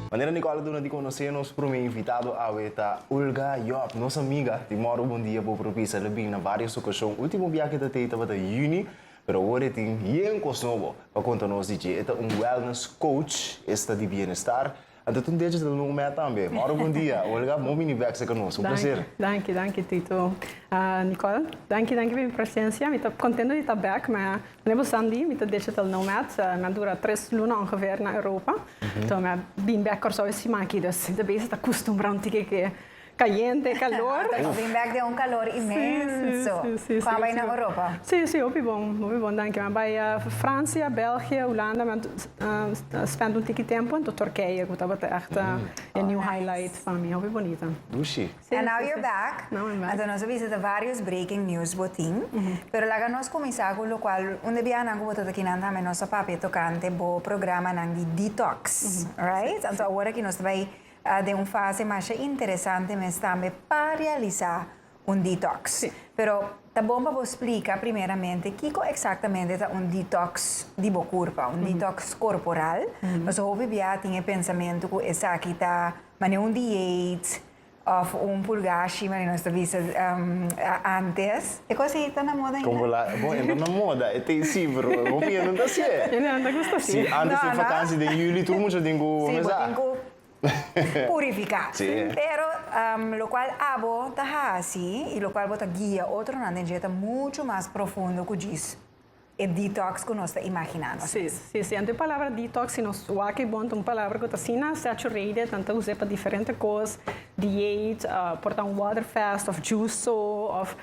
Manera Nicole a duna di conoce, nos prome invitado awe ta Olga Job, nos amiga di Morro Bon Dia Bo Propisa. El a bin na varios ocasion. Ultimo bia ke ta tei tabata Juni, pero awor e tin bien cos nobo pa conta nos di dje. E ta un wellness coach, esta di bienestar. Anto tin decha ta lungu mea tambe. Mauro bon dia. Olga bon bini vekse ku nos. Un plaser. Danki, danki Tito. Nicole, danki, danki pa mi presensia. Mi ta kontento di ta bek, ma kende bo san di, mi ta decha ta lungu mea. Mi a dura tres luna ongeveer na Europa. So mi a bini bek Kòrsou e siman aki, dus mi ta bisa ta kustumbrá un tiki ke Cayente, calor. Ata nos bin bek den un calor inmenso. Cu a bay na Europa? Sí, sí, hopi bon, hopi bon, danki. Mi a bay Francia, België, Hulanda, mi a spend un tiki tempo anto Turkije, cu tabata echt e new highlight pa mi. Hopi bonita. Dushi. And now you're back. Now I'm back. Anto nos a bisita varios breaking news bo tin. Pero laga nos cuminsa cu locual un di biahanan cu bo ta ta akinan tambe nos a papia tocante bo programanan di detox, right? Anto awor aki nos ta bay Ta den un fase masha interesante mes tambe pa realisa un detox. Si. Pero ta bon pa bo splika primeramente kico exactamente ta un detox di bo curpa, un detox corporal. Nos hopi bia a tin e pensamento cu esaki ta mane un dieet of un purgashi, mane nos ta bisa antes. E cos ei ta na moda Con bo ainda? la, bon, e no na moda, e ta esí, pero e hopi hende no ta hasié. Hende no ta gusta así. Sí, antes No, den no. vakansi, den juli, tur mucha tin ku Sí, bo mesá. tin ku purifiká. Sí. Pero, am, lokual abo ta hasi i lokual bo ta guia otronan den dje ta muchu mas profundo ku djis. E detox cu nos ta imaginá nos mes. Sí, sí, anto e palabra detox, si nos wak e bon, ta un palabra cu ta asina saturated, nan ta us'é pa diferente cos, dieet, por ta un water fast of juice so, of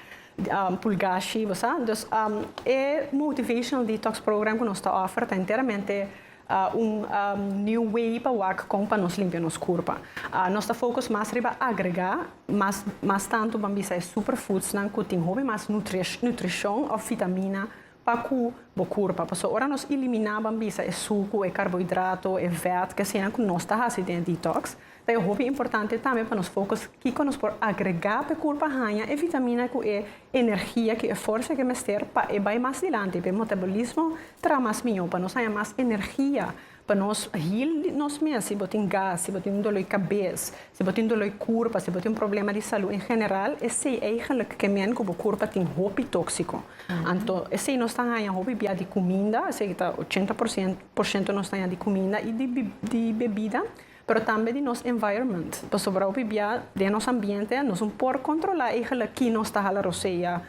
pulgashi, bo sa. Dus e motivational detox program cu nos ta offer ta enteramente Un new way pa wak kon pa nos limpia nos kurpa. Nos ta focus mas riba agregá mas mas tantu ban bisa e superfoodsnan ku tin hopi mas nutrish nutrishon òf vitamina pa ku bo kurpa. Paso ora nos eliminá ban bisa e suku, e karbohidrato, e vèt, ke asina ku nos ta hasi den e detox, Ta e hopi importante tambe pa nos focus kico nos por agrega p'e curpa haña e vitamina cu e energia cu e forsa ke mester pa e bai mas dilanti, p'e metabolismo traha mas mijo, pa nos haña mas energia, pa nos heal nos mes si bo tin gas, si bo tin un dolor di cabez, si bo tin un dolor di curpa, si bo tin un problema di salud en general, esey eigenlijk ke men cu bo curpa tin hopi toxico. Anto esey nos ta haña hopi bia di cuminda, esey ta ochenta por ciento nos ta haña di cuminda y di bebida. pero tambe di nos environment, pasobra hopi bia den nos ambiente nos un por controla e gele ki nos ta hala rosea,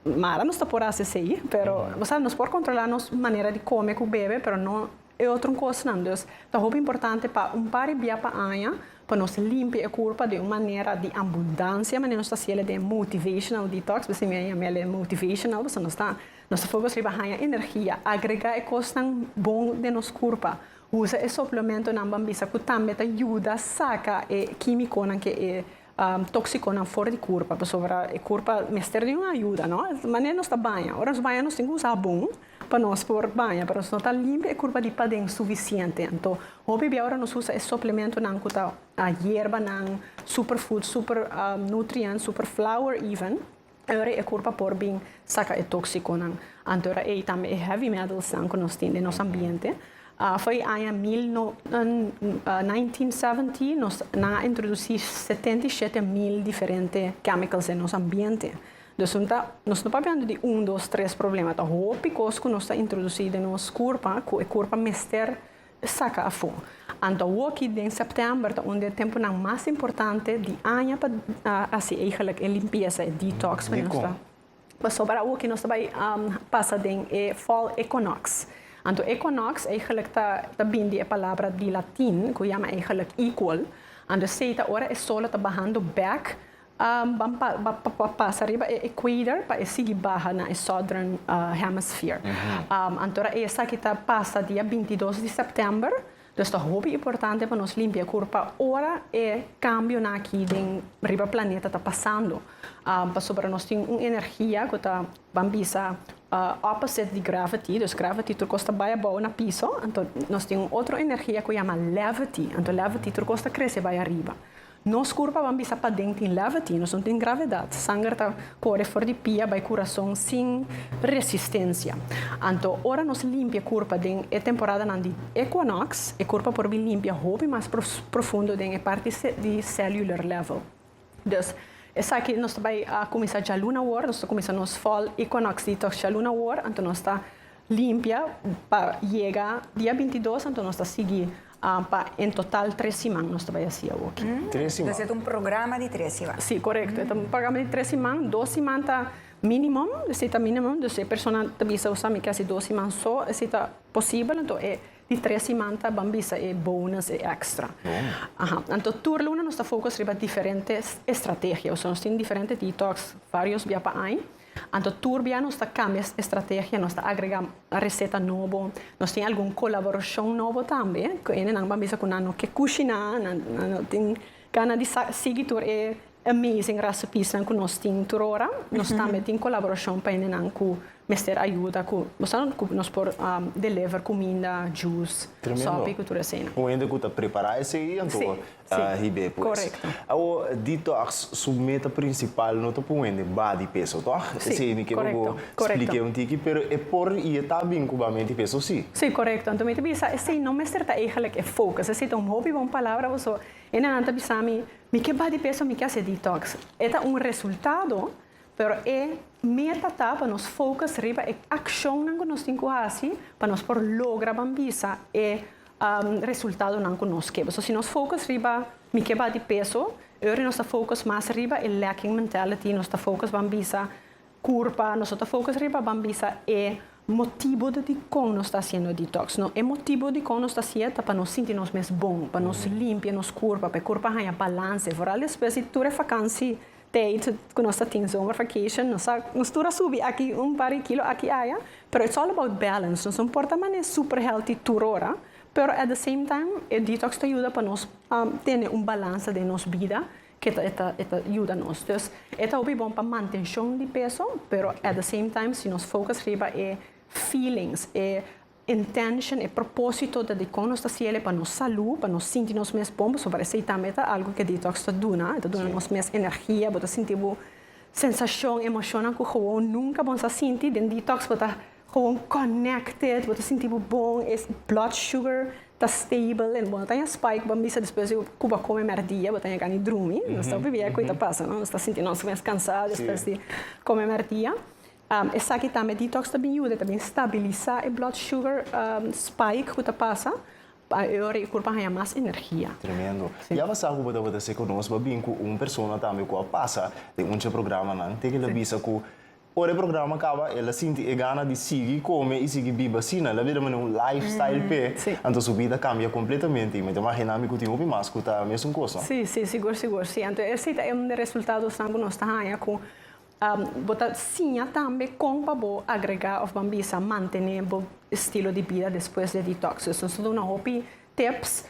mara nos ta por haci esey, pero bo sa nos por controla nos manera di come cu bebe pero no e otro cosnan, dus ta hopi importante pa un pari bia pa aña pa nos limpia e curpa den un manera di ambundancia manera nos ta haci ele den motivational detox, bisi mi a yama ele motivational pasobra nos ta nos ta focus riba haña energia, agrega e cosnan bon den nos curpa. Usa e suplementonan ban bisa ku tambe ta yuda saka e kímikonan ke e tóksikonan for di kurpa, pasobra e kurpa mester di un ayuda, no? Manera nos ta baña, ora nos baña nos tin ku usa habon pa nos por baña, pero nos no ta limpia e kurpa di paden sufisiente. Anto hopi bia ora nos usa e suplementonan ku ta yerbanan, superfood, super nutrients, super flour even, Ora e kurpa por bin saka e tóksikonan. Ante ora ei tambe e heavy metalsnan ku nos tin den nos ambiente. For e aña mil no, nineteen seventy nos, nan a introdusí setenta i shete mil diferente chemicals den nos ambiente. Dus un ta, nos no ta hablando di un, dos, tres problema, ta hopi kos ku nos ta introdusí den nos kurpa ku e kurpa mester Saca afo. Anto woki den september ta un di e temponan mas importante di aña pa haci eigenlijk e limpieza, e detox pa nos ta. Paso para awoki nos ta bay pasa den e fall equinox. Anto equinox eigenlijk ta ta bin di e palabra di latin cu yama eigenlijk equal. Anto esey ta ora e sol lo ta bahando bek Ban pasa riba e equator pa e sigui baha na e southern hemisphere. Anto ra esaki ta pasa dia binti dos di sèptèmber, dus ta hopi importante pa nos limpia kurp pa ora e kambionan aki den riba planeta ta pasando, pasobra nos tin un energia ku ta ban bisa opposite di gravity, dus gravity tur kos ta bai abou na piso, anto nos tin un otro energia ku yama levity, anto levity tur kos ta krese bai ariba. Nos kurpa ban bisa paden tin lèveti, nos no tin gravedat, sanger ta kore for di pia bai kurason sin resistensia. Anto ora nos limpia e kurpa den e temporadanan di ekwonòks, e kurpa por bin limpia hopi mas profundo den e parti di cellular level. Dus, esaki nos ta bai a kuminsá djaluna awor, nos ta kuminsá nos fall equinox detox djaluna awor, anto nos ta. Limpia pa yega dia bintidos anto nos ta sigui pa en total tres siman nos ta bai hasi awo aki. Tres siman. Entonces e ta un programa di tres siman. Sí, correcto. E ta un programa di tres siman. Dos siman ta minimum, esey ta minimum. Dus e persona ta bisa sa mi ke hasi dos siman so, esey ta posibel. Anto e di tres siman ta ban bisa e bonus, e extra. Aha. Anto tur luna nos ta focus riba diferente estrategia. Nos tin diferente detox varios bia pa aña. Anto tur bia nos ta kambia estrategia, nos ta agrega reseta nobo, nos tin algun kolaborashon nobo tambe ku enenan ban bisa ku nan no ke kushiná, nan no tin gana di sigui tur e amazing rasepísnan ku nos tin tur ora. Nos tambe tin kolaborashon pa enenan ku mester ayuda ku nos por deliver kuminda, juice, sòpi ku tur esei. Un hende ku ta prepará esei anto Si, korekto. Awor, detox su meta prinsipal no ta por wende body peso, tòg? Si, korekto. Esei mi ke bo bo splike un tiki, pero e por i e ta bin ku ba menti peso, si? Si, korekto. Anto mi ta bisa esei no mester ta eigenlijk e focus. Esei ta un hopi bon palabra, paso e nannan ta bisa mi, mi ke body peso, mi ke hasi detox. E ta un resultado, pero e meta ta pa nos focus riba e akshonnan ku nos tin ku hasi pa nos por logra bambisa e resultadonan ku nos keba. So si nos focus riba mi ke bati peso, e ora nos ta focus mas riba e lacking mentality, nos ta focus ban bisa curpa, nos no ta focus riba ban bisa e motibo di dikon nos ta haciendo detox. No, e motibo dikon nos ta hacié ta pa nos sinti nos mes bon, pa nos limpia nos curpa, pa e curpa haña balance. Vooral despues di tur e vakansi Tijd ku nos ta tin zomer vacation nos a nos tur a subi aki un par di kilo aki aya pero it's all about balance nos no por ta mane super healthy tur ora pero at the same time e detox ta yuda pa nos tene un balansa den nos bida ke ta e ta yuda nos dus e ta hopi bon pa mantenshon di peso pero at the same time si nos focus riba e feelings e Intention, e propósito ta di kon nos ta siel e pa nos salú, pa nos sinti nos mes bon, pasobra por esei tambe ta algu ku e detox ta duna, e ta duna nos mes energia, bo ta sinti bo sensashon, emoshonnan ku gewoon nunka bo no sa sinti. Den detox bo ta gewoon connected, bo ta sinti bo bon, e blood sugar ta stable en bo no ta ña spike bo a bisa despues di ku bo a kome mèrdia bo ta ña gana drumi. Nos ta obi biaha ku e ta pasa, no? Nos ta sinti nos mes kansá despues di kome mèrdia. Esaki tambe detox ta bin yuda, e ta bin stabilisa e blood sugar spike ku ta pasa, pa e ora e kurpa haña mas energia. Tremendo. Ya bo sa ku bo tabata seko nos bo bin ku un persona tambe ku a pasa den un dje programanan, te ke el a bisa ku ora e programa kaba el a sinti e gana di sigui kome i sigui biba asina, el a bira manera un life style p'e, anto su bida a kambia kompletamente, i mi ta imagina mi ku tin hopi mas ku ta mesun kos no? Si, si, sigur, sigur, si. Anto esei ta e un di e resultadonan ku nos ta haña ku Bo ta siña tambe kon pa bo agregá òf bambisa mantené bo estilo di bida despues di detox. Nos ta duna hopi tips.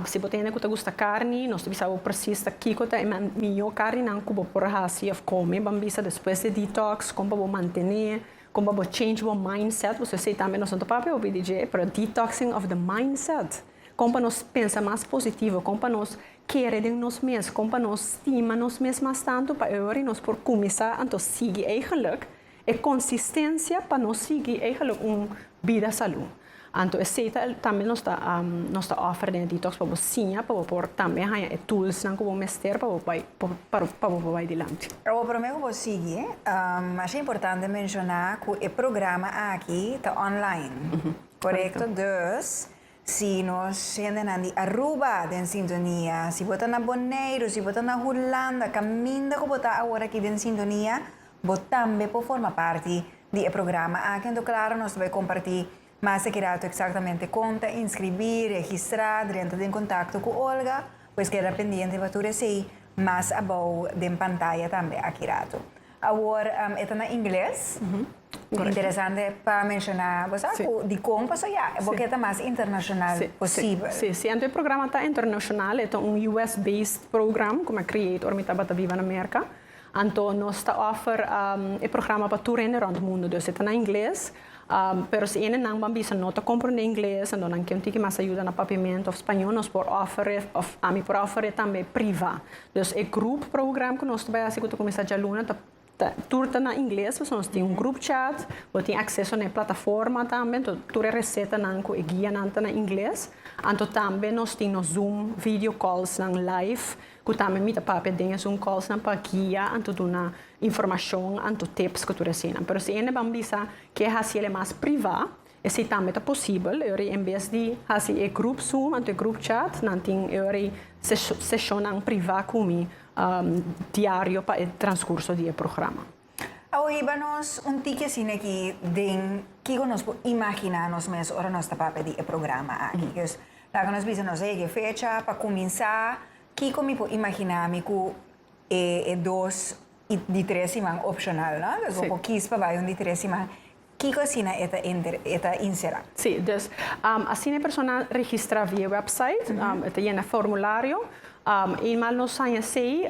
Si bo ta hende ku ta gusta karni, nos ta bisa bo presis ta kiko ta e mihó karninan ku bo por hasi òf kome bambisa despues di detox, kon pa bo mantené, kon pa bo change bo mindset. Pasobra esei tambe nos no ta papia hopi di dje, pero detoxing of the mindset. Kon pa nos pensa mas positivo, kon pa nos Kere den nos mes, kon pa nos stima nos mes mas tantu pa e ora i nos por kuminsá anto sigui eigenlijk e konsistensia pa nos sigui eigenlijk un bida salú. Anto esei ta el tambe nos ta nos ta òfer den e detox pa bo siña pa bo por tambe haña e toolsnan ku bo mester pa bo bai pa bo por bai dilanti. Awor promé ku bo sigui, mas importante menshoná ku e programa aki ta online, korekto? Dus, Si nos hendenan di Aruba den sintonia, si bo ta na Boneiru, si bo ta na Hulanda, kaminda ku bo ta awor aki den sintonia, bo tambe por forma parti di e programa aki. Anto klaru nos ta bai kompartí mas te kirato eksaktamente kon ta inskribí, registrá, drenta den kontakto ku Olga. Pues keda pendiente pa tur esei mas abou den pantaya tambe a kirato. Awor e ta na ingles. Correcto. Interesante pa menciona bosa cu dicon paso ya bo kier ta mas internacional Sí, posible. Sí, sí, siento e programa ta internacional, e ta un US based program cu mi a create ora mi tabata biba na Merca. Anto nos ta offer um, e programa pa tur hende rond mundo, dus e ta na ingles, um, pero si ene nan ban bisa no ta comprende ingles, anto nan ken tiki mas ayuda na papiamento of spaño, nos por offer e, of ami por offer e tambe priva. Dus e groep program cu nos ta bay haci cu ta cuminsa djaluna ta Tur ta na ingles, pasobra nos tin un group chat, bo tin acceso na e plataforma tambe, enton tur e recetanan cu e guianan ta na ingles. Anto tambe nos tin nos zoom video callsnan live, cu tambe mi ta papia den e zoom callsnan pa guia anto duna informacion anto tips cu tur e hasinan. Pero si hende ban bisa ke haciel e mas priva, Esei tambe ta posibel, eori en bes di hasi e grup Zoom anto e grup chat, nan tin eori seshonnan privá ku mi diario pa e transkurso di e programa. A hiba nos un tiki asina aki den kiko nos por imaginá nos mes ora nos ta papia di e programa aki. Pues laga nos bisa nos ey, e fecha, pa kuminsá kiko mi por imaginá mi ku e dos di tres siman opshonal, no? Pues bo por kis pa bai un di tres siman. Kiko asina e ta enter, e ta inserá? Sí, dus asina e persona registrá via website, e ta yena formulario, eenmaal nos haña esei,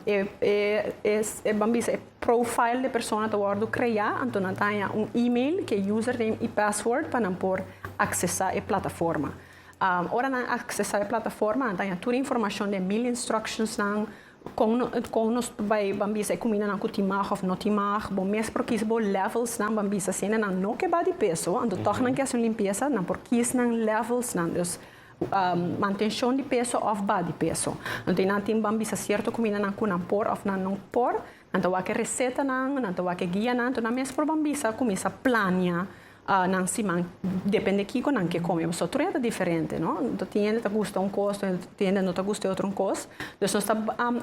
e ban bisa e profile di e persona ta wòrdu kreá, anto nan ta haña un email ku e username i password pa nan por aksesá e plataforma. Ora nan aksesá e plataforma nan ta haña tur e informashon den mil instructionsnan, Kon nos bai ban bisa e kumindanan ku tin mag òf no tin mag? Bo mes por kis bo lèvelsnan ban bisa si nenan no ke ba di peso, anto tòg nan ke hasi un limpiesa, nan por kis nan lèvelsnan. Dus, mantenshon di peso òf ba di peso. Anto i nan tin ban bisa sierto kumindanan ku nan por òf nan no por. Nan ta wak e resetanan, nan ta wak e guianan, anto nan mes por ban bisa kuminsá plania Ah, nan siman depende kico nan ke come, paso tur hende ta diferente, no? Tin hende ta gusta un cos, tin hende no ta gusta e otro un cos. Dus nos ta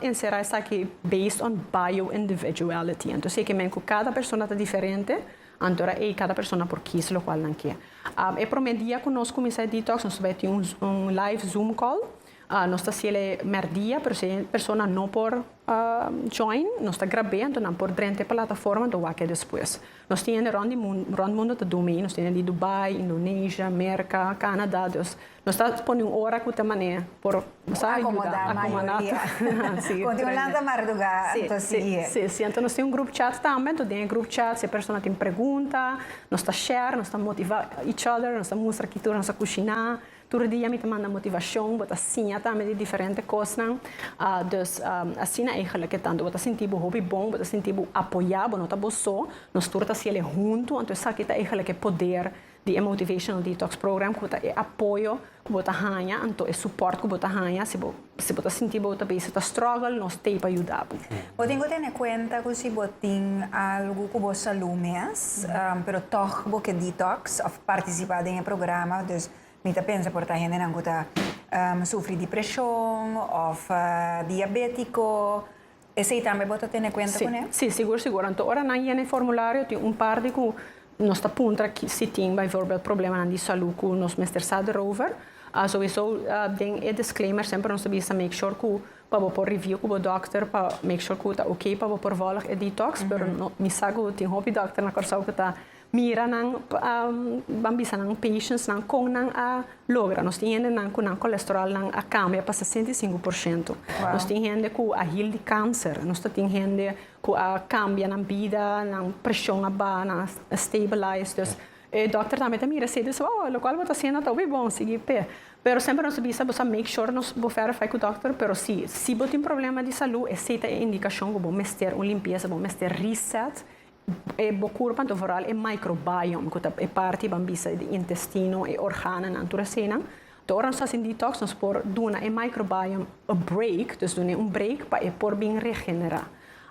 encera esaki based on bio individuality. Anto si e ke men cu cada persona ta diferente, anto era ey cada persona por kies locual nan ke. Ah, e prome dia cu nos cuminsa e detox, nos ta bai tin un live zoom call. Ah, nos ta haciele merdia, pero si e persona no por, ah, join, nos ta grab'e, anto nan por drenta e plataforma, anto wak e despues. Nos tin hende rond di mundo ta dumi y nos tin hende di Dubai, Indonesia, Merca, Canada, dus nos ta pone un ora cu ta mane por sa yuda acomodá tur. Conti un lanta marduga ta sigui. Sí, sí, sí. Enton nos tin un group chat tambe, enton den e group chat si e persona tin pregunta nos ta share, nos ta motivá each other, nos ta mustra ki tur nos a cushina. Tur dia mi ta manda motivacion, bo ta siña tambe di diferente cosnan. Dus, asina eigenlijk e tantu bo ta sinti bo hopi bon, bo ta sinti bo apoya, bo no ta bo so. Nos tur ta haciel e huntu, anto esaki ta eigenlijk e poder di e Motivational Detox Program, cu ta e apoyo cu bo ta haña, anto e support cu bo ta haña si bo. Si bo ta sinti bo ta bisa ta struggle, nos t'ei pa yuda bo. Bo tin ku tene kuenta ku si bo tin algu ku bo salú mes, pero tòg bo ke detox òf partisipá den e programa, dus mi ta pensa por ta hendenan ku ta sufri dipreshon òf diabétiko, Esei tambe bo ta tene kuenta kuné? Sí, sí, sigur, sigur. Anto ora nan yena e formulario tin un parti ku nos ta puntra si tin bijvoorbeeld problemanan di salú ku nos mester sa derover. Souwisou den e disclaimer semper nos ta bisa make sure ku pa bo por review ku bo dòkter pa make sure ku ta oké pa bo por vòlg e detox, pero mi sa ku tin hopi dòkter na Kòrsou ku ta Mira nan, ban bisa nan patients nan con nan a logra. Nos tin hende nan cu nan cholesterol nan a cambia pa sesenta i sinku por ciento. Nos tin hende cu a heal di cancer. Nos ta tin hende cu a cambia nan bida, nan presion a baha, nan a stabilize. Dus e dokter tambe ta mira esey ta bisa, oh, locual bo ta haciendo ta hopi bon, sigui p'e. Pero semper nos ta bisa bo sa make sure nos bo verify cu dokter, pero si, si bo tin problema di salud esey ta e indicacion cu bo mester un limpieza, bo mester reset. E bokur panto vooral e microbiome ku ta e parti ban bisa di intestino, e organonan, tur eseinan. To'o ora nos hasi un detox nos por duna e microbiome a break, dus dun'e un break pa e por bin regenerá.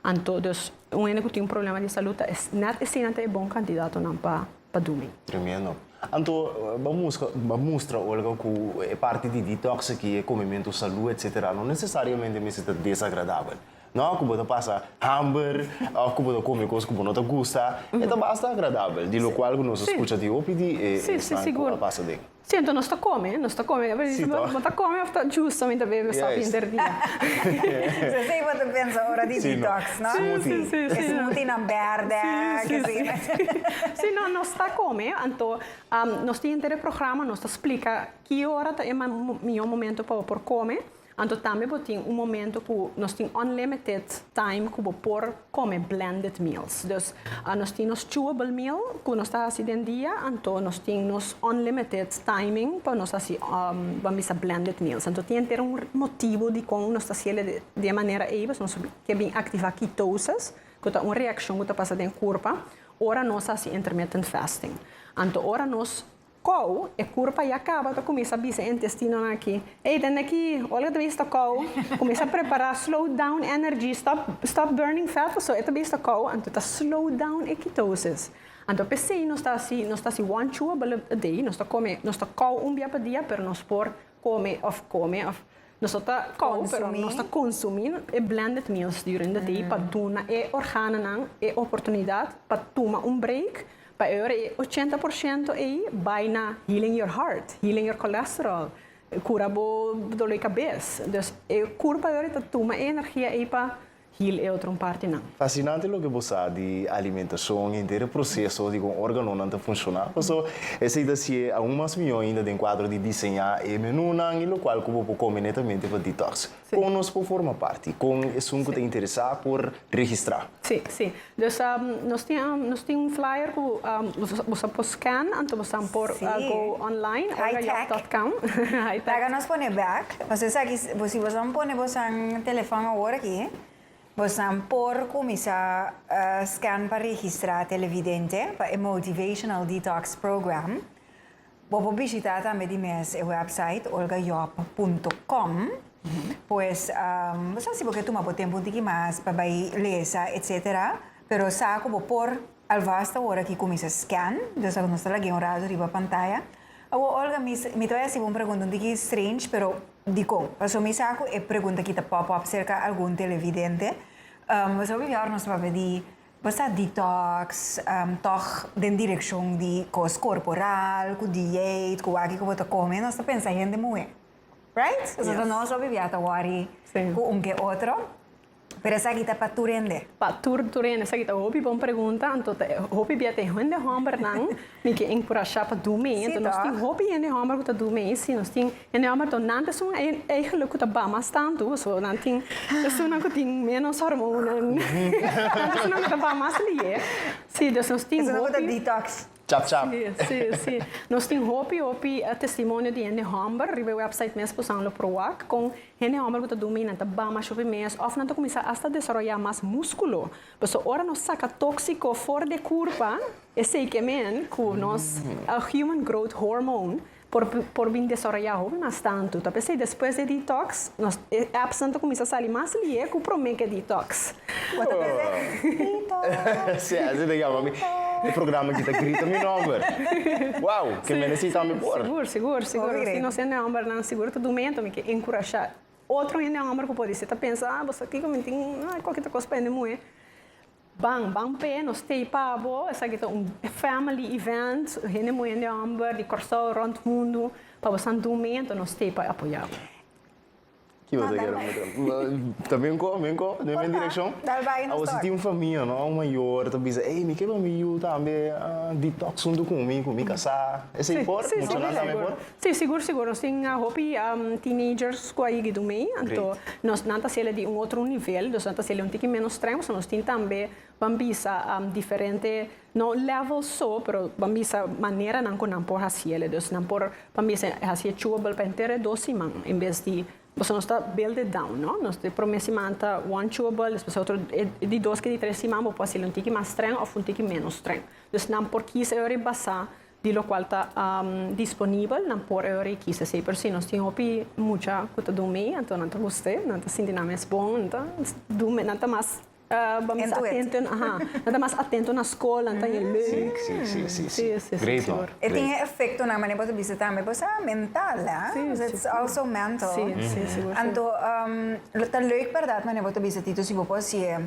Anto dus un hende ku tin un problema di salud ta nèt eseinan ta e bon kandidatonan pa pa dumi. Tremendo. Anto ban muska ban mustra Olga ku e parti di detox aki, e komementu, salú etsetera no nesesariamente mester ta desagradabel. No ku bo ta pasa hamber òf ku bo ta kome kos ku bo no ta gusta, e ta basta agradabel, di lokual ku nos a skucha di hopi di e esnan ku a pasa den. Sí, anto nos ta kome, nos ta kome, pero si bo ta kome òf ta justamente bebe un sòpia henter dia. So esei bo ta pensa ora di detox, no? Smoothie. E smoothie nan bèrdè, ke sé yo. Sí, no, nos ta kome, anto nos tin henter e programa, nos ta splika ki ora ta e mihó momento pa bo por kome, Anto tambe bo tin un momento cu nos tin unlimited time cu bo por come blended meals. Dus nos tin nos chewable meal cu nos ta haci den dia, anto nos tin nos unlimited timing pa nos haci bo a bisa blended meals. Anto tin henter un motibo di con nos ta haciele di e manera ey, pasobra nos ke bin activa ketosis, cu ta un reaccion cu ta pasa den curpa ora nos haci intermittent fasting. Anto ora nos Kou, e kurpa ya kaba ta kuminsá bisa e intestinonan aki, Ey, tende aki, Olga ta bista kou, kuminsá prepará, slow down energy, stop stop burning fat, pasobra e ta bista kou, anto e ta slow down e ketosis. Anto p'esei nos ta hasi nos ta hasi one chew a bala a day, nos ta kome nos ta kou un bia pa dia, pero nos por come of come of nos no ta kou pero nos ta consumi e blended meals during the day pa duna e organonan e oportunidad pa tuma un break pa e ora e ochenta por ciento ei bai na healing your heart healing your cholesterol cura bo dolor di cabes. Dus e curpa ei ora ta tuma e energia ei pa. hil e otro partinan. Fasinante loke bo sa di alimentacion, henter e proceso di con organonan ta funciona, paso esey ta haci'e aun mas miyo ainda den cuadro di diseña e menunan y locual cu bo por come netamente pa detox. Con nos por forma parti? Con esun cu ta interesa por registra? Si, si. Dus nos tin nos tin un flyer cu boso a por scan anto boso a por go online or a yap dot com. High tech. Laga nos pone back. Nos esaki si boso a pone bosonan telefon awor aki bosonan por cuminsa scan pa registra televidente pa e motivational detox program. Bo por bishitá tambe di mes e wèpsait olgajob punto com. Pues, bo sa si bo ke tuma bo tempu un tiki mas pa bai lesa etsetera, pero sa ku bo por alvast ta wòrdu aki kuminsá scan, djòs ago nos ta lag'é un ratu riba pantaya. Awo Olga, mi mi ta bai hasi bo un pregunta un tiki strange, pero dikon? Paso mi sa ku e pregunta aki ta pòp òp serka algun televidente. Bo sabí mihor nos ta papia di. Bo sa detox, tòg den direkshon di kos korporal, ku diet, ku aki ku bo ta kome, nos ta pensa hende muhé. Right? Pasobra ta nos lo bibia ta wòri ku un ke otro. Pero esaki ta pa tur hende? Pa tur tur hende. Esaki ta hopi bon pregunta. Anto ta hopi bia te hende hòmbernan Mi ke enkurashá pa dumi. Enton nos tin hopi hende hòmber ku ta dumi. Si, nos tin hende hòmber donante esun eigelik ku ta ba mas tantu pasobra nan tin esunnan ku tin ménos hormonnan. Tantu esunnan ku ta ba mas lihé. Si, dus nos tin hopi. Esunnan ku ta detox. Chap chap. Si, si, si. Nos tin hopi, hopi testimonio di hende hòmber riba e wèpsait mes ku Sanlo Pro wak kon hende hòmber ku ta dumi nan ta ba mas shufi mes òf nan ta kuminsá asta desaroyá mas múskulo. Por eso ora nos saka tóksiko for di e kurpa, Esei ke men ku nos Human Growth Hormone por por bin desaroyá hopi mas tantu. Ta p'esei despues di e detox, nos appsnan ta kuminsá sali mas lihe ku promé ke detox. Bo ta pensa, Detox! Sí, así ta yama mi. E programa aki ta grita mi nòmber. Wou! Ke men esei tambe por? Sigur, sigur, sigur. Hopi grita. Si nos hende hòmbernan sigur ta dum'é enton mi ke enkurashá otro hende hòmber ku por di, si ta pensa, ah, bo sa aki ku mi tin, ah, koki ta kos pa hende muhé. Ban, ban p'e nos stay pa bo. Esaki ta un family event, hende muhé, hende homber di Kòrsou rònt mundu pa bo Santo Momento, nos stay pa apoyá bo. Ki bo ta kere mi ta ba? Ta bin ko, bin ko den mi direkshon. Por ta, dal bai nos Awor si tor. tin un famia no, un mayor ta bisa, ey, mi ke ba mi yu tambe a detox huntu ku mi, ku mi kasá. Esei por? Sí, sí, Menshona sí, tambe por? Sí, sigur, sigur. Nos tin hopi teenagers cu a yigi dun mey, anto nos, nan ta haciele di un otro nivel, nos nan ta haciele un tiki menos streng, so nos tin tambe, ban bisa diferente, no level so, pero ban bisa maneranan cu nan por haciele. Dus nan por, ban bisa e haci e chewable pa henter e dos siman en bes di, pasobra nos ta build it down, no? Nos di prome siman ta one chewable, despues e otro, e di dos cu e di tres siman bo por hacel un tiki mas streng of un tiki menos streng. Dus nan por kisa e ora di basa di lokual ta disponibel nan por e ora i kisa esei pero si nos tin hopi mucha ku ta dun mi anto nan ta guste nan ta sinti nan mes bon nan ta dun me nan ta mas atentu aha nan ta mas atentu na skol nan ta yu leuk si great ho e tin e efektonan mane bo ta bisa tambe bo sa mental a its also mental anto lo ta leuk berdad mane bo ta bisa Tito si bo por hasi'e.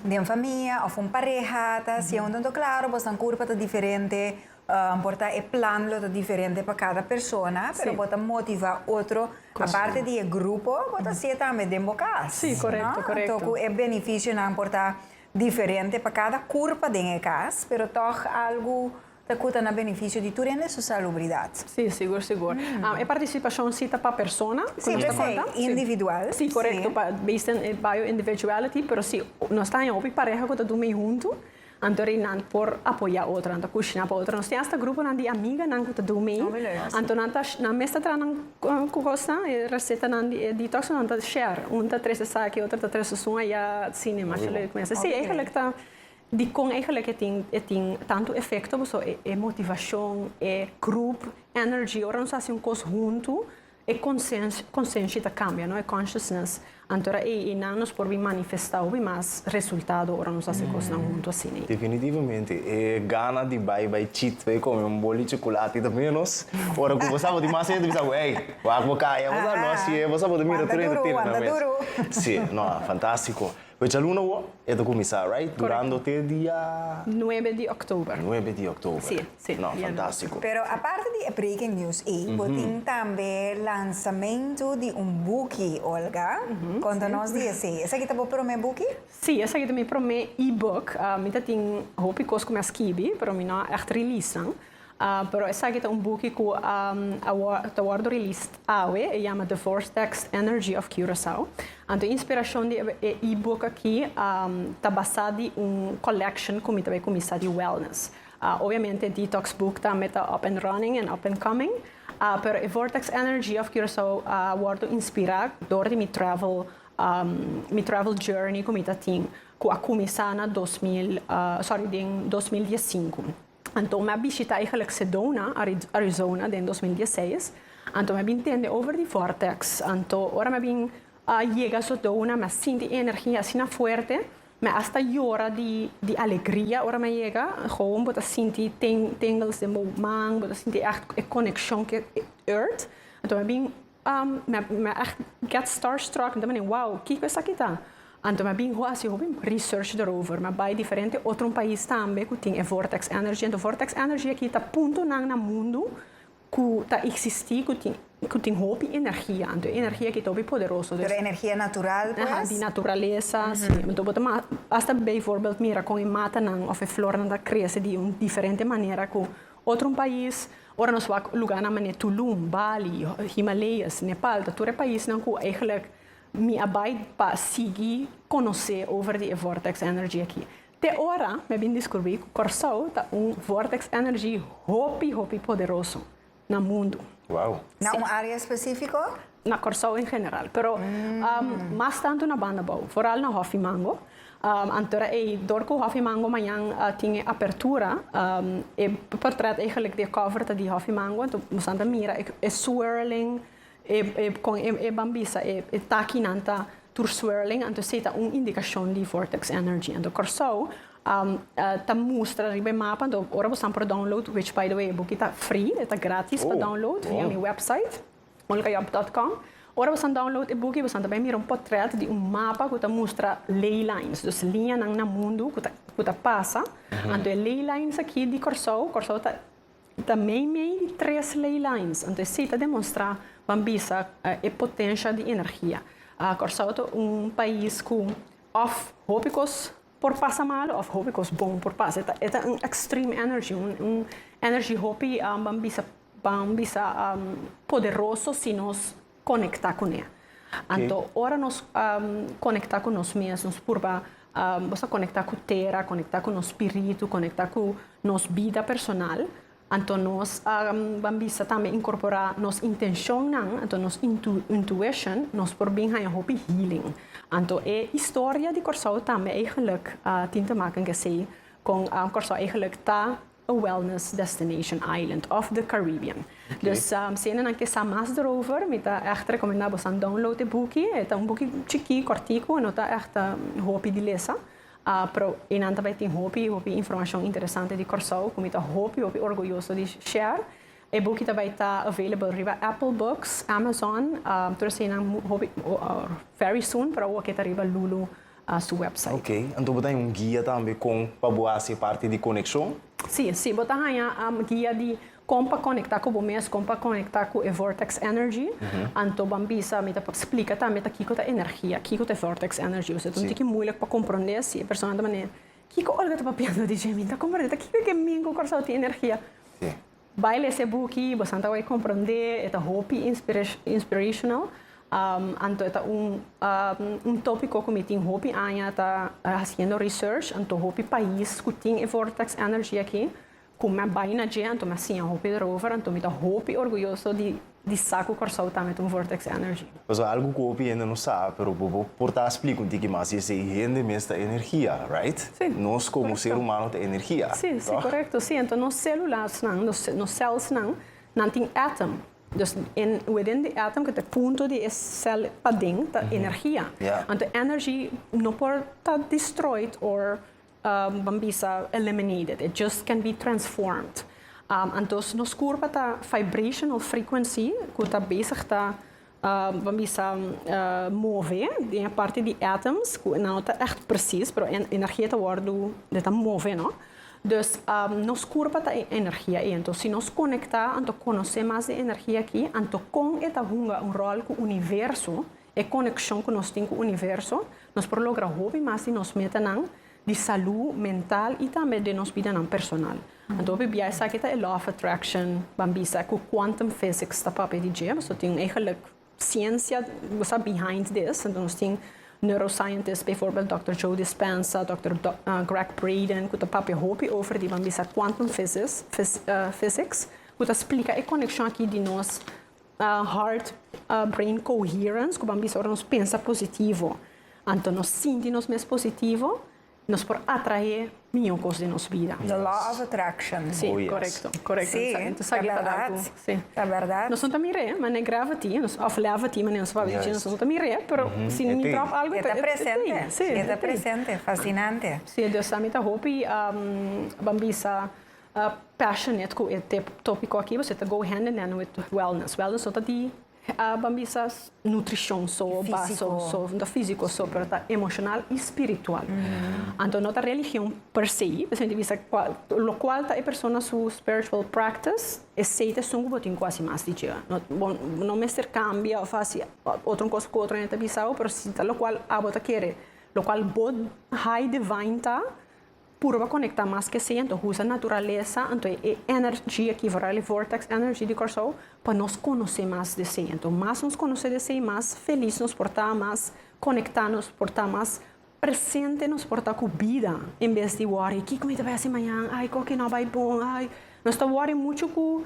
den famia of un pareha ta haciendo. Mm-hmm. Entonces, claro, vos tan curpa ta diferente, um, por ta e plan lo ta diferente para cada persona, pero vos ta motiva otro, aparte de e grupo, vos ta hacer también den bocas. Sí, correcto, correcto. Entonces, e beneficio nan por ta diferente para cada curpa den e cas, pero toch algo Ta cu ta na beneficio di tur hende su salubridad. Sí, sigur, sigur. E participacion sí ta pa persona cu nos ta conta. Sí, p'esei individual. Sí, corecto, pa based on e bio individuality, pero si nos ta haña hopi pareha cu ta dun mei hunto, anto rei nan por apoya otro, nan ta cushina pa otro. Nos tin hasta gruponan di amiganan cu ta dun mei, anto nan ta, nan mes ta traha nan cu cosnan, e recetanan di e detox, nan ta share. Un ta trece esaki, otro ta trece sun aya, asina, mas yo lo mester. Sí, eigenlic ta. Dikon eigenlijk e tin e tin tantu efekto boso e e motivashon, e grup energy. Ora nos hasi un kos huntu e konsens konsenshi ta kambia no e consciousness anto ora e e nan nos por bin manifestá hopi mas resultado ora nos hasi kosnan huntu asina. Definitivamente e gana di bai bai chit bai kome un boli chukulati ta ménos ora ku bo sa bo tin mas sed bo bisa bo ey wak bo kaya bo sa no hasié bo sa bo ta mira tur hende tira nan mes si no fantástiko. Fechaluna wou e ta kuminsá right? Durando te dia. Nuebe di October. Nuebe di October. Sí, sí. No, fantástiko. Pero aparte di e breaking news ei, bo tin tambe lansamentu di un buki, Olga. Konta nos di esei. Esaki ta bo promé buki? Sí, esaki ta mi promé e-book. Mi ta tin hopi kos ku mi a skibi, pero mi no a ègt release nan. Pero esaki ta un buki cu ta wordo released awe, e yama The Vortex Energy of Curaçao. Anto e inspiracion di e e-book aki ta basa di un collection cu mi ta bay cuminsa di wellness. Obviamente e detox book tambe ta up and running en up and coming, pero e Vortex Energy of Curaçao a wordo inspira door di mi travel, mi travel journey cu mi ta tin, cu a cuminsa na dos mil, sorry, den dos mil dies sinku. Anto mi a bishita eigenlijk Sedona, Arizona den dos mil diesseis. Anto mi a bin tende over di vortex. Anto ora mi a bin yega Sedona mi a sinti e energia asina fuerte, mi hasta yora di di alegria ora mi a yega. Gewoon bo ta sinti tingles den bo man, bo ta sinti ègt e konekshon ku e earth. Anto mi a bin Mi a get starstruck, mi ta mane, wow, kiko esaki ta? Anto mi a bin hasi hopi research derover, mi a bai diferente otro un pais tambe ku tin e vortex energy. Anto vortex energy aki ta puntonan na mundu ku ta eksistí ku tin ku tin hopi energia. Anto e energia aki ta hopi poderoso. Pero energia natural pues? Aha, di naturalesa, si. Anto bo ta masta beivoorbeeld mira kon e matanan òf e flornan ta krese di un diferente manera ku Otro un pais, ora nos wak luganan manera Tulum, Bali, Himalayas, Nepal, ta tur e paisnan cu eigenlijk mi a bay pa sigui conoce over di e vortex energy aki. Te ora mi a bin discurbi cu Corsou ta un vortex energy hopi hopi poderoso na mundo. Wow! Na un area especifico? Na Corsou en general, pero mas tanto na banda bou, foral na Hofimango, Antora ei, dor ku Hòfi Mango mañan a tin e apertura, e portrèt eigenlik di e kòver ta di Hòfi Mango. Anto bosan ta mira e swirling, e e kon e e ban bisa e e takinan ta tur swirling, anto esei ta un indikashon di vortex energy. Anto Kòrsou ta mustra riba e mapa, anto ora bosan por download, which by the way e buki ta free, e ta gratis pa download via mi wèpsait. Molukayop.com, Ora bosan download e buki, bosan ta bai mira un potret di un mapa ku ta mustra ley lines, dus liñanan na mundu ku ta ku ta pasa. Anto e ley lines aki di Kòrsou, Kòrsou ta ta meimei di tres ley lines. Anto esei ta demonstrá ban bisa e potensha di energia. Kòrsou ta un pais ku òf hopi kos por pasa malo of hopi kos bon por pasa e ta un extreme energy un energy hopi ban bisa ban bisa poderoso si nos conecta cu ne anto ora nos conecta cu nos mes nos purba bosa conecta cu tera conecta cu nos spiritu conecta cu nos bida personal Anto nos ban bisa tambe incorpora nos intencionnan, anto nos intuition, nos por bin haya hopi healing. Anto e historia di Corsou tambe eigenlik tin te maken kesey con Corsou eigenlik ta a wellness destination island of the Caribbean. Dus siendo nan ke sa mas derover, mi ta echt recomenda bosan download e buki. E ta un buki chiki, cortico, no ta echt hopi di lesa. Pero y nan ta bay tin hopi hopi informacion interesante di Corsou cu mi ta hopi hopi orguyoso di share. E buki ta bay ta available riba Apple Books, Amazon, tur esei nan hopi very soon pero awo ke ta riba Lulu su website. Ok, anto bo ta haña un guia tambe con pa bo haci e parti di coneccion? Si, si bo ta haña guia di Kon pa konekta ku bo mes, kon pa konekta ku e vortex energy, anto ban bisa, mi ta por splika tambe ta kiko ta energia, kiko ta e vortex energy. Ose ta un tiki muilik pa komprondé si e persona ta manera, kiko Olga ta papiando di dje? Mi no ta komprondé, ta kiko ke min ku Kòrsou tin energia? Bai lesa e buki, bosan ta wak komprondé, e ta hopi inspirational, anto e ta un un tópiko ku mi tin hopi aña ta hasiendo research, anto hopi pais ku tin e vortex energy aki, Cu me a bay na dje anto me a siña hopi erover, anto mi ta hopi orguyoso di di sa cu Corsou ta met un vortex energy. Nos a algu cu hopi hende no sa, pero bo bo por ta splica un tiki mas, y esey hende mes ta energia, right? Sí. Nos como ser humano ta energia, Sí, sí, tog? correcto. Sí, anto nos celularsnan, nos ce nos celsnan, nan tin atom. Dus en within di atom, cu ta e punto di e cel paden, ta energia. Yeah. Anto energy no por ta destroyed or Ban bisa eliminated, it just can be transformed. Antos nos kurpa ta vibrational frequency ku ta bezig ta ban bisa move den e parti di atoms ku no ta ègt presis pero e energia ta wòrdu e ta move no. Dus nos kurpa ta e energia ei anto si nos konektá anto konosé mas di e energia aki anto kon e ta hunga un ròl ku universo e konekshon ku nos tin ku universo, nos por logra hopi mas di nos metanan di salú mental i tambe den nos bidanan personal. Anto hopi bia esaki ta e Law of Attraction, ban bisa ku quantum physics ta papia di dje. Boso tin e geluk siensia ku sa behind this. Anto nos tin neuroscientists, bijvoorbeeld Dokter Joe Dispenza, Dokter Greg Braden, ku ta papia hopi over di ban bisa quantum physics, ku ta splika e konekshon aki di nos Heart Brain Coherence, cu ban bisa ora nos pensa positivo, anto nos sinti nos mes positivo, nos por atrae miño cos den nos bida. The Law of Attraction. Si, oh, yes. correcto, correcto. Sí, Entonces, sa ta verdad. Sí. Ta verdad. Nos ta mire, mané gravity, nos, of levity, mané nos fabi yes. nos ta mire, pero mm -hmm. si ni drop algo, está presente. Sí, está presente. Fascinante. Sí, Dios sami ta hopi um, bambisa. passionate cu e topico aki pues e ta go hand in hand with wellness, wellness no ta di ban bisa nutricion so ba so so no ta fisico so pero ta emocional y spiritual anto no ta religion per se pues mi ta bisa cual locual ta e persona su spiritual practice esey ta esun cu bo tin cu haci mas di dje no bo no mester cambia of haci otro cosa cu otro hende ta bisabo pero si ta locual abo ta kere locual bo high divine ta. Purba konekta mas ke si, anto husa naturalesa, anto e energi aki wòrda e vortex energy di Kòrsou, pa nos konosé mas di esei. Anto mas nos konosé di esei, mas felis nos por ta, mas konektá nos por ta, mas presente nos por ta ku bida, en bes di wòri kiko mi ta bai hasi mañan, ai kòke no a bai bon, ai. Nos ta wòri muchu ku.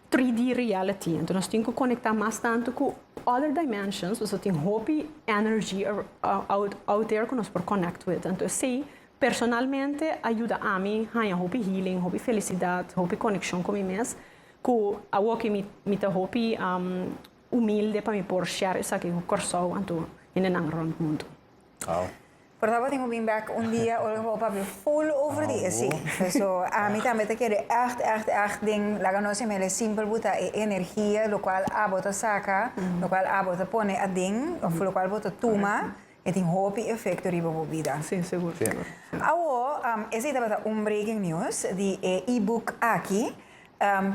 3D reality. Entonces nos tin que conecta más tanto cu other dimensions, pues tin hopi energy out, out there que nos por connect with. Entonces sí, personalmente ayuda a mi haya hopi healing, hopi felicidad, hopi conexión con mi mes, cu awo que mi, mi ta hopi um, humilde pa mi por share esaki cu Corsou anto hindenan rond mundo. Wow. Por ta patin ku bin bek un dia ora ku bo papia ful over di esi. So ami tambe ta kere ègt ègt ègt den laga nos yam'e el simpel bo ta e energia lo kual abo ta saka, lo kual abo ta pone aden òf lo kual bo ta tuma e tin hopi efekto riba bo bida. Sí, segur, segur. Awor esei tabata un breaking news di e e-book aki.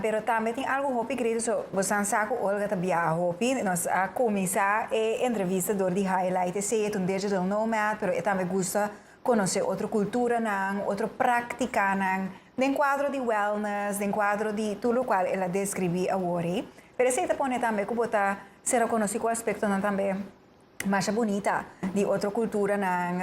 Pero tambe tin algu hopi gredo so bo san sa cu Olga ta biaha hopi. Nos a cuminsa e entrevista door di highlight esey. E ta un digital nomad pero e tambe gusta conoce otro culturanan, otro practicanan den cuadro di wellness, den cuadro di tur locual el a describi awor ey. Pero esey ta pone tambe cu bo ta ser a conoci cu aspectonan tambe. masha bunita di otro culturanan,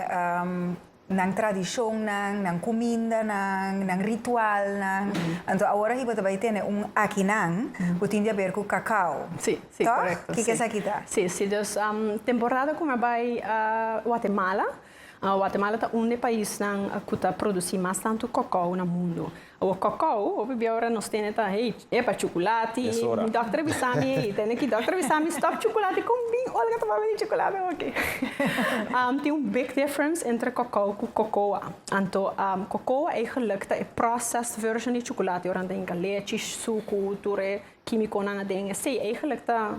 nan tradicionnan, nan cumindanan, nan ritualnan. Anto awor aki bo ta bay tene un akinan cu tin di haber cu cacao. Sí, sí, toch? Correcto. Kiko esaki ta? Sí, sí, dus temporada cu mi a bay Guatemala. Guatemala ta un d'e paisnan cu ta produci mas tantu cocao na mundo. Awo cocao, hopi bia ora nos tene ta, hey, epa, chuculati, mi dokter bisa mi ey, tene ki dokter bisa mi stop chuculati, con bin Olga ta papia di chuculati hopi? Tin un big difference entre cocao cu cocoa. Anto, cocoa eigenlijk ta e processed version di chuculati, ora nan ta hinca lechi, sucu, tur e quimiconan aden, esey eigenlijk ta.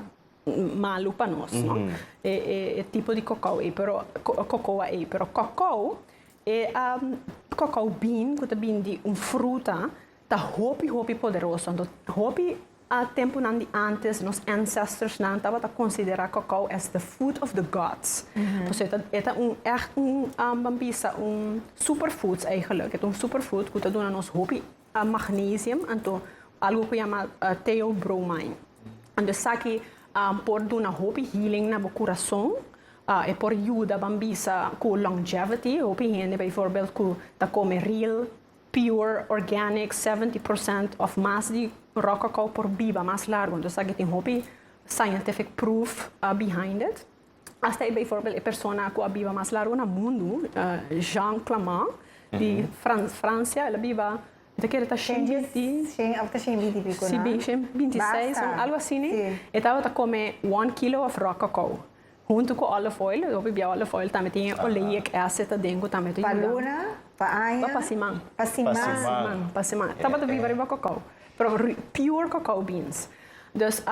malu pa nos no e e tipo di cocoa ei pero cocoa ei pero cocoa e um, cocoa bean cu ta bin di un fruta ta hopi hopi poderoso anto hopi a temponan di antes nos ancestors nan tabata considera cocoa as the food of the gods paso e ta e ta un echt un um, ban bisa un superfoods eigenlijk e ta un superfood cu ta duna nos hopi a magnesium, anto algo ku yama theobromine. Anto esaki um, por duna hopi healing na bo kurason, uh, e por yuda ban bisa ku longevity, hopi hende bijvoorbeeld ku ta kome real, pure, organic, 70% of mas di raw cacao por biba mas largo. Anto esaki tin hopi scientific proof uh, behind it. Asta e bijvoorbeeld e persona ku a biba mas largu na mundu, Jean Clamant, di Fran Fransia, el a biba e ta kere ta shen binti Shen, after shen binti pico, si na? bin shen binti seis, Basta. algo asini. Si. E tabata kome one kilo of raw cacao huntu ku olive oil, e hopi bia olive oil tambe tin e oleiek acid aden ku tambe ta Pa yuda. luna, pa aña. Pa siman. Pa Pa siman. siman. Siman, pa siman. Tabata biba riba cacao. Pero pure cacao beans. Dus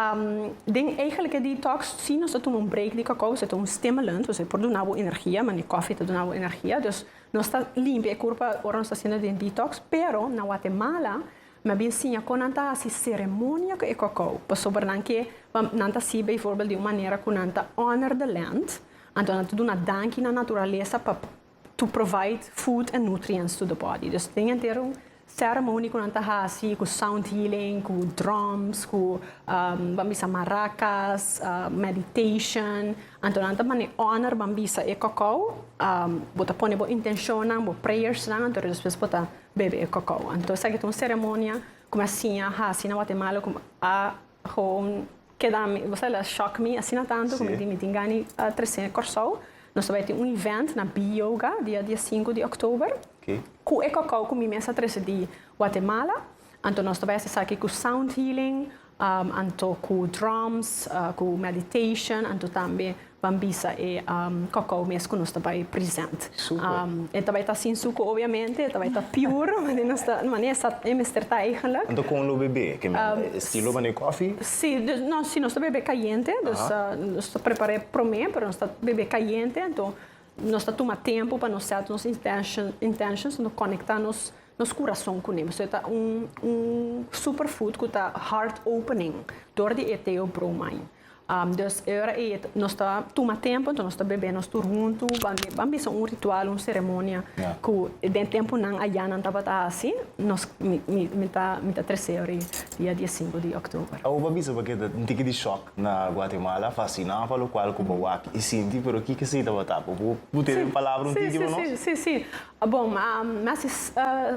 den eigenlijk e detox si nos ta tuma un break di cacao esei ta un stimulant, dus e por duna bo energia manera coffee ta duna bo energia, dus nos ta limpia e curpa ora nos ta haciendo den detox, pero na Guatemala mi a siña con nan ta haci ceremonia cu e cacao paso por nan ke nan ta haci bijvoorbeeld di un manera cu nan ta honor the land, anto nan ta duna danki na naturalesa pa to provide food and nutrients to the body. Dus tin henter un ceremony ku nan ta hasi ku sound healing, ku drums, ku um, ban bisa maracas, uh, meditation. Anto nan ta mane honor ban bisa e kokau, um, bo ta pone bo intenshonnan, bo prayersnan, anto despues bo ta bebe e kokau. Anto esaki ta un ceremonia ku mi a siña hasi na Guatemala ku a Gewoon keda mi, bo sa el a shock mi asina tantu ku mi di mi tin gana di trese Kòrsou. Nos ta bai tin un event na B-Yoga dia di a sinku di òktober ku e kòkò ku mi mes a trese di Guatemala. Anto nos ta bai hasi esaki ku sound healing, anto ku drums, ku meditation, anto tambe Ban bisa e kokkou mes ku nos ta bai present. E ta bai ta sin suko obiamente, e ta bai ta piur, manera nos ta, manera e sa, e mester ta eigenlik. Anto kon lo bebe? Ke men estilo ban e kofi? Si, dus, no, si nos ta bebe kayente, dus nos ta prepara e promé, pero nos ta bebe kayente, anto nos ta tuma tempu pa nos sèt nos intention, intentions, anto konekta nos nos kurason kuné. Pasobra e ta un un superfood ku ta heart opening dor di e teobromine. Dus e ora ei nos ta tuma tempu, nos ta bebé nos tur huntu, ban bisa un ritual, un seremonia ku den e tempunan ayá nan tabata hasi, nos mi ta mi ta trese e ora ei dia di e sinku di òktober. Awo bo a bisa bo ke ta un tiki di shòk na Guatemala, fasina pa lokual ku bo wak i sinti, pero kiko esei tabata? Bo por pudi tene un palabra, un tiki pa nos? Sí, sí, bon mi a hasi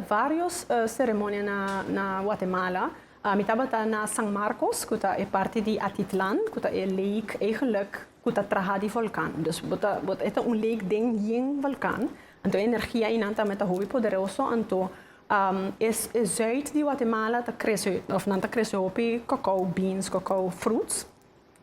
vários seremonia na Guatemala, Ami tabata na San Marcos, cu ta e parti di Atitlan, cu ta e lake eigenlijk cu ta traha di volcan. Dus bo ta, bo ta, e ta un lake den yen volcan, anto e energia einan tambe ta hopi poderoso, anto um e e zuid di Guatemala ta crece, of nan ta crece hopi cacao beans, cacao fruits.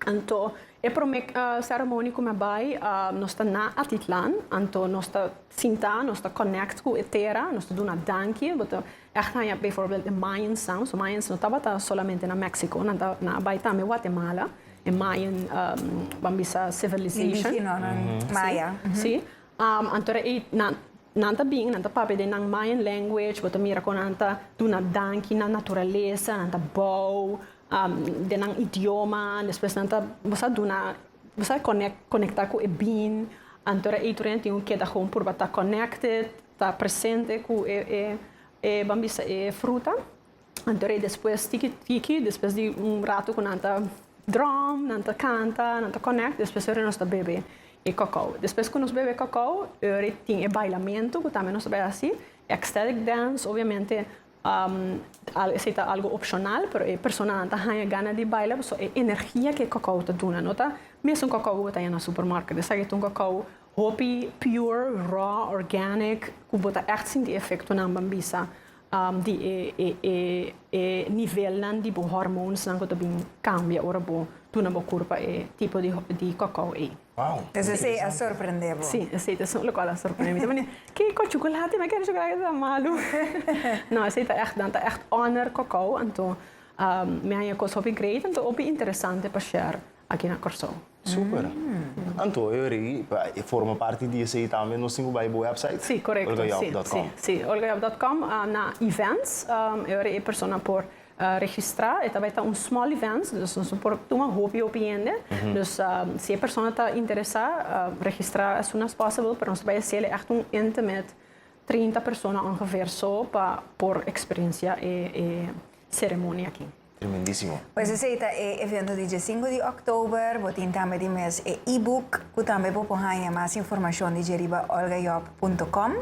Anto e promé seremoni ku mi a bai, nos ta na Atitlan. Anto nos ta sintá, nos ta connect ku e tera, nos ta duna danki. Bo ta ègt haña bijvoorbeeld e Mayans nan. So Mayans no tabata solamente na México, nan ta nan a bai tambe Guatemala, e Mayan ban bisa civilization. Indígena nan, Maya. Sí, anto era ei nan nan ta bin, nan ta papia den nan Mayan language, bo ta mira kon nan ta duna danki na naturalesa, nan ta bou. den nan idioma despues nan ta bo sa duna bo sa connect conecta cu e bin anto ora ey tur nan tin un keda gewoon por bo ta connected ta presente cu e e e ban bisa e fruta anto ora ey despues tiki tiki despues di un rato cu nan ta drum nan ta canta nan ta connect despues ora nos ta bebe e cacao despues cu nos bebe cacao ora ey tin e bailamento cu tambe nos ta bay haci extelic dance obviamente Esei ta algu opshonal, pero e personanan ta haña gana di baila pasobra e energia ke kokouw ta duna. No ta mesun kokouw ku bo ta haña na supermarket. Esaki ta un kokouw hopi pure, raw, organic ku bo ta ègt sinti e efektonan ban bisa di e nivelnan di bo hormonesnan ku ta bin kambia ora bo duna bo kurpa e tipo di kokouw ei. Wow! Pues esey a sorprende bo? Sí, esey ta esun locual a sorprende mi. Ta mira, Kiko, chocolate? Mi a kere chocolate ki ta malu. No, esey ta ègt dan, ta ègt honor Kòkò. Anto mi a haña cos hopi great, anto hopi interesante pa share aki na Kòrsou. Super! Anto e ori e forma parti di esey tambe nos tin cu bai e bo website? Sí, correcto. Olgajob dot com. Sí, sí. Olgajob dot com na events e ori e persona por. registrá e ta bai ta un small events dus nos no por tuma hopi hopi hende dus si e persona ta interesá registrá as soon as possible pero nos ta bai haciel e ègt un intimate trinta persona ongeveer so pa por experiencia e e ceremonia aki. Tremendísimo. Pues esei ta e evento di dje sinku di òktober. Bo tin tambe di mes e e-book ku tambe bo por haña mas informashon di dje riba olgajob punto com.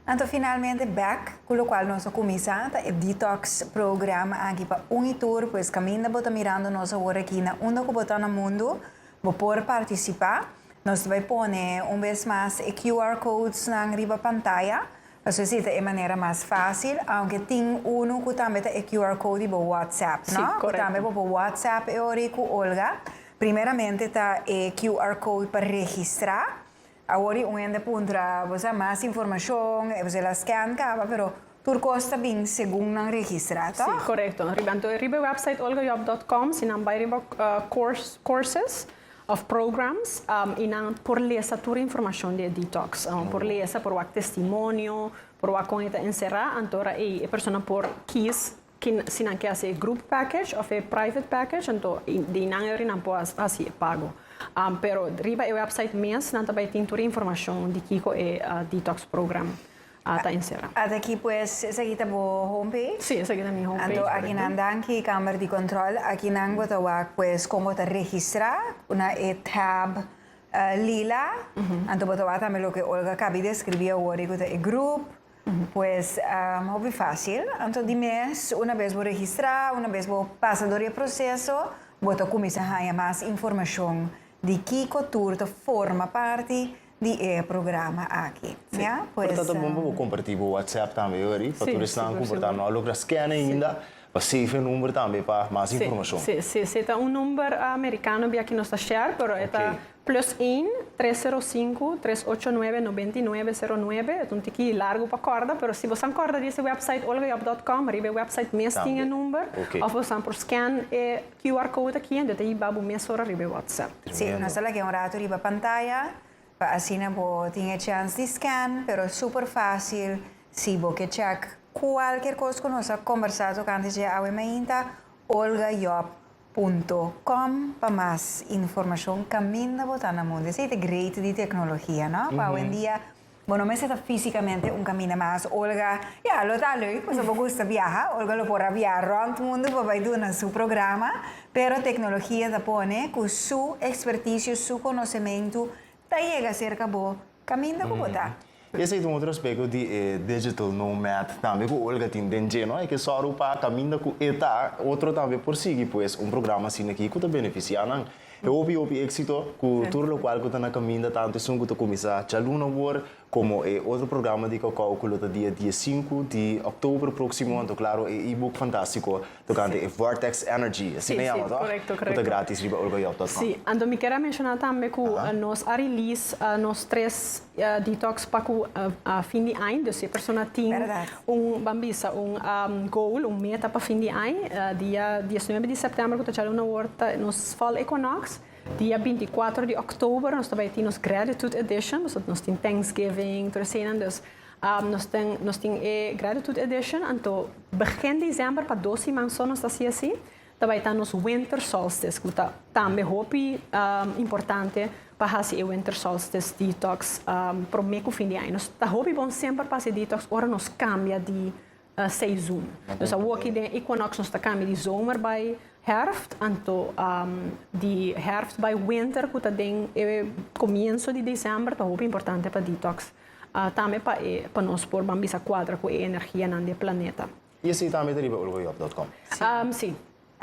Anto finalmente bek cu locual nos a cuminsa ta e Detox Programa aki pa un y tur, pues caminda bo ta mirando nos awor aki na unda cu bo ta na mundo, bo por participa. Nos ta bay pone un bes mas e QR codes nan riba pantaya, pasobra si ta e manera mas facil, aunke tin uno cu tambe ta e QR code di bo WhatsApp, no? Cu tambe bo por WhatsApp e ora y cu Olga. Primeramente ta e QR code pa registra, Awor y un hende puntra bo sa mas informacion e bosel a scan caba pero tur cos ta bin segun nan registra toh? Si, corecto. Riba anto e riba e website olgajob dot com si nan bay riba course, courses of programs y nan por lesa tur informacion di e detox. Por lesa, por wak testimonio, por wak con e ta encera anto ora ey e persona por kies Si nan ke hasi e group package of e private package anto di nan e ori nan por hasi e pago. Pero riba e website mes nan ta bai tin tur e informashon di kiko e detox program ta ensera. Ata aki pues esaki ta bo home page? Si, esaki ta mi home page. Anto aki nan danki kamber di control. Aki nan bo ta wak pues kon bo ta registra na e tab lila. Anto bo ta wak tambe loke Olga a kabi describi awor di ku ta e group. Pues, hopi fácil. Anto di mes, una bes bo registrá, una bes bo pasa dor di e proseso, bo ta kuminsá haña mas informashon di kiko tur ta forma parti di e programa akí. Ya, pues. Pero ta ta bon pa bo kompartí bo WhatsApp tambe, Hurry, pa tur esnan ku por ta no a logra skèn ainda, pa save e number tambe pa mas informashon. Sí, sí, sí. Ta un number amerikano bia ki nos ta share, pero e ta. Plus een, tres sero sinku, tres ocho nuebe, nobenta i nuebe, sero nuebe. Ta un tiki largu pa kòrda, pero si bo san kòrda di ese wèpsait olgajob.com, riba e wèpsait mes tin e number, òf bo san por skèn e QR code aki en do ta hiba bo mesora riba e wòtsèp. Sí, nos ta laga un ratu riba pantaya pa asina bo tin e chèns di skèn, pero super fásil si bo ke chèk kualker kos ku nos a kombersá tokante dje awe mainta, olgajob. Punto com pa mas informacion caminda bo ta na mundo esey ta great di tecnologia no pa awendia bo no mester ta fisicamente un caminda mas Olga ya lo ta leuk pasobra bo gusta biaha Olga lo por a biaha rond mundo pa bay duna su programa pero tecnologia ta pone cu su experticio su conocemento ta yega cerca bo Caminda cu bo ta. Esey ta un otro aspecto di e digital nomad tambe cu Olga tin den dje, no? E ke sòru pa caminda cu e ta, otro tambe por sigui pues un programa asina aki cu ta beneficia nan. E hopi hopi exito cu tur locual cu ta na caminda tanto esun cu ta cuminsa djaluna wor como e otro programa di Caucau cu lo ta dia dies sinku di october proximo anto claro e e-book fantastico tocante e Vortex Energy, así lo yama toch? Cu ta gratis riba urgoyop.com. Sí, anto mi kier a menciona tambe cu nos a release nos tres detox pa cu fin di aña, dus e persona tin un, ban bisa, un goal, un meta pa fin di aña, dia diesnuebe di september cu ta djalo na wor ta nos Fall Equinox, dia binticuatro di oktober nos ta bay tin nos Gratitude Edition, nos tin Thanksgiving, tur eseinan, dus. Nos tin nos tin e Gratitude Edition, anto begin December pa dos siman so nos ta hasi así, ta bai ta nos Winter Solstice cu ta tambe hopi importante pa hasi e Winter Solstice Detox prome cu fin di aña. Nos ta hopi bon semper pa hasi e detox ora nos cambia di Seizoen. Dus awor aki den equinox nos ta cambia di zomer bay herfst, anto di herfst bay winter cu ta den e comienzo di december ta hopi importante pa detox. Tambe pa e pa nos por ban bisa cuadra cu e energianan di e planeta. Y así tambe ta riba Olgoyop dot com? Si.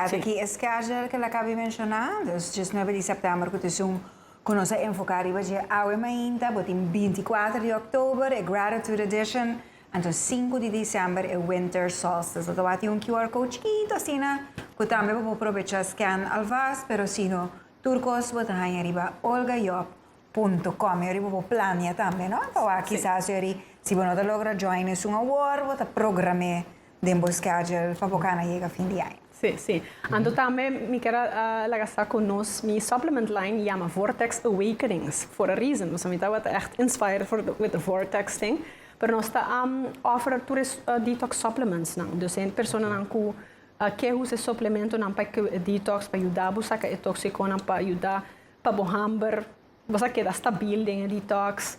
Ora ta ki e schedule cu Lacabi menciona, dus dje snuebe di september cu ta esun cu nos a enfoca riba dje awe mainta, bo tin binti kuater di oktober e Gratitude Edition, anto sinku di december e Winter Solstice. Lo ta wak tin un QR code chikito asina cu tambe bo por probecha scan alvast, pero sino tur cos bo ta hanja riba olgajob.com. Yori bo por planea tambe, no? Ta wak kisas yori si bo no ta logra join esun awor, bo ta program'e den bo schedule pa bo kana yega fin di aña. Sí, sí. Anto tambe mi ker a laga sa cu nos, mi supplement line yama Vortex Awakenings for a reason. Nos a mira tabata echt inspired for the, with the vortex thing. Pero nos ta a offer tur e detox supplements nan. Dus e personanan cu a ke usa e suplementonan pa e detox, pa yuda bo saca e toxiconan, pa yuda pa bo hamber. Nos a keda stabil den e detox.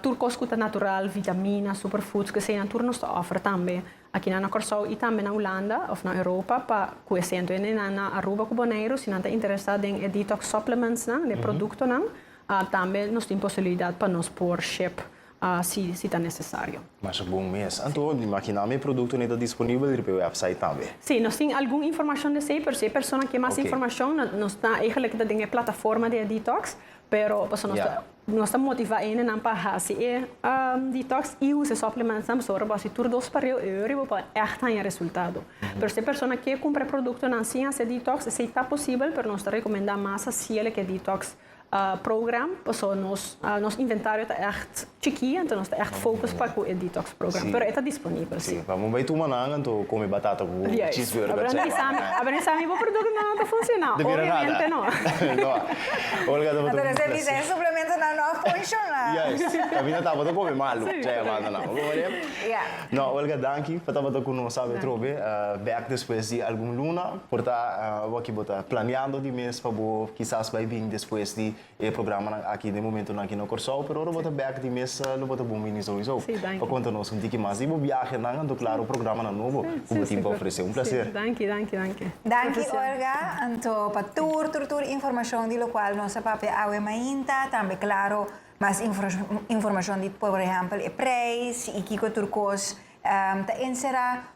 Tur kos ku ta natural, vitamina, superfoods, ku eseinan tur nos ta òfer tambe akinan na Kòrsou i tambe na Hulanda òf na Europa pa ku e sento ende nan na Aruba ku Boneiru si nan ta interesá den e detox supplementsnan, den e produktonan, tambe nos tin posibilidat pa nos por ship si ta nesesario. Masha bon mes. Anto di makiná mi e produktonan ta disponibel riba e wèpsait tambe? Sí, nos tin algun informashon di esei, pero si e persona ke mas informashon, nos ta egelik ta den e plataforma di e detox, pero pasobra nos ta nos ta motivá hendenan pa hasi e detox i usa e sòplementsnan, pasobra bo a hasi tur dos pa riba, oyo riba bo a ègt haña resultado. Pero si e persona ke kumpra e produktonan sin hasi e detox, esei ta posibel, pero nos ta rekomendá mas hasiel ke detox. program, paso nos nos inventario ta echt chiki, anto nos ta echt focus pa cu e detox program, pero e ta disponibel si. Bo a bai tuma nan anto come batata cu cheese verde a cena nan. Abo no sa mi bo producto nan ta funciona? Obviamente no. No a. Olga ta boto un placer. Anto nos ta bisa e suplemento nan no a funciona. Juist, tapi no tabata come malu dje e manda nan. Bo horia? No, Olga danki pa tabata cu nos awe atrobe back despues di algun luna. Por ta awaki bo ta planeando di mes pa bo kisas bai bin despues di e programanan aki den momentunan aki na Kòrsou, pero ora bo ta bèk di mes lo bo ta bon bini souiso pa konta nos un tiki mas di bo biahenan anto klaro programanan nobo ku bo tin pa ofresé. Un plaser. Danki, danki, danki. Danki Olga anto pa tur tur tur informashon di lokual nos a papia awe mainta, tambe klaro mas informashon di por ehèmpel e preis i kiko tur kos ta enserá.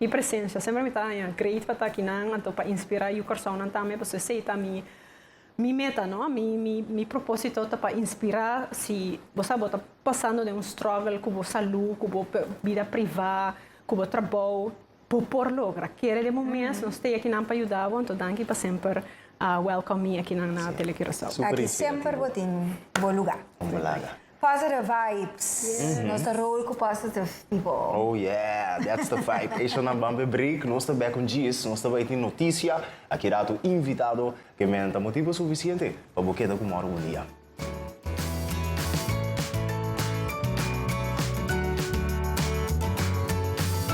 Mi presencia semper mi ta haña great pa ta kinan anto pa inspira yu Còrsounan tambe pasobra esei ta mi mi meta no mi mi mi proposito ta pa inspira si bo sa bo ta pasando den un struggle ku bo salu ku bo bida priva ku bo trabou bo por logra kere den bo mes nos stay akinan pa yuda bo anto danki pa semper welcome mi akinan na Tele Curaçao aki semper bo tin bo lugar. Positive vibes. Yeah. Nos ta roll cu positive people. Oh yeah, that's the vibe. Eisho nan ban pe break, nos ta back un djis, nos ta bai tin noticia, a ki rato invitado, ke men ta motibo suficiente pa bo keda cu mor un dia.